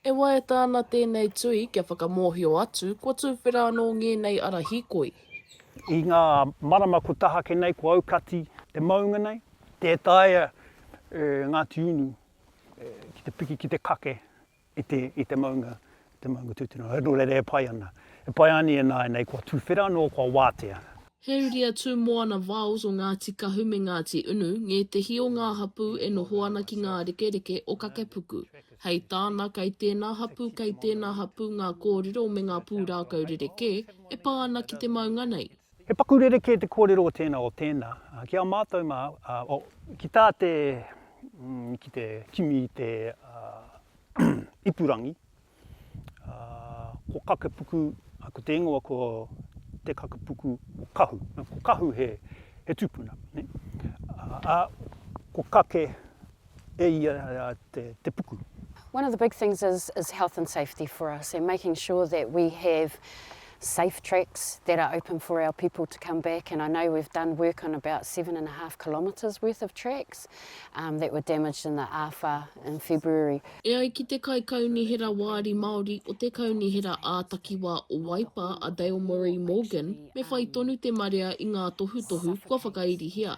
E waiata ana tēnei tui kia whakamōhio atu kua tuwhera anō ngēnei ara hīkoi. I ngā marama kua tahake nei, kua aukati te maunga nei. Tē taea e Ngāti Unu ki te piki, ki te kake. i te, i te maunga, te maunga tūtuna. Nō reira e pai ana. E pai ana ināianei kua tuwhera anō, kua wātea. He uri a Tūmoana Viles o Ngāti Kahu me Ngāti Unu, ngētehi o ngā hapū e noho ana ki ngā rekereke o Kakepuku. Hei tāna, kei tēnā hapū, kei tēnā hapū ngā kōrero me ngā pūrākau rerekē e pā ana ki te maunga nei. He paku rerekē te kōrero o tēnā, o tēnā. Ki a mātou mā, oh, ki tā te, mm, ki te kimi i te ipurangi, ko Kakepuku, ko te ingoa ko Te Kakepuku o Kahu. Ko Kahu he, he tupuna, nē. Ā, ko Kake, e ia te puku. One of the big things is is health and safety for us and making sure that we have safe tracks that are open for our people to come back and I know we've done work on about seven and a half kilometres worth of tracks um, that were damaged in the AFA in February. E ai ki te Kaikaunihera Wāri Māori o te Kaunihera ā-Takiwā o Waipa a Dale Murray Morgan me whai tonu te marea i ngā tohutohu kua whakairihia.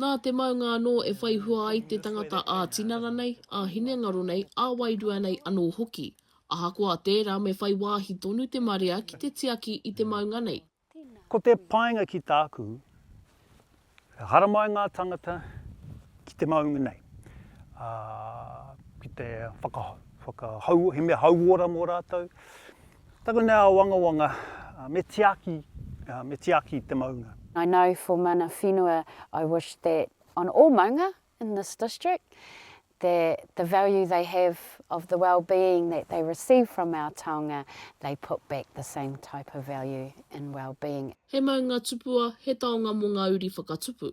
Nā te maunga anō e whai hua ai te tangata ā-tinana nei, ā-hinengaro nei, ā-wairua nei anō hoki. Ahakoa tērā me whai wāhi tonu te marea ki te tiaki i te maunga nei. Ko te painga ki tāku, e haramai ngā tangata ki te maunga nei, ā, ki te whakahau, he mea hauora mō rātou. Taku nei āwangawanga, me tiaki, me tiaki te maunga. I know for mana whenua I wish that on all maunga in this district that the value they have of the wellbeing that they receive from our taonga they put back the same type of value in wellbeing. He maunga tupua, he taonga mō ngā uri whakatupu.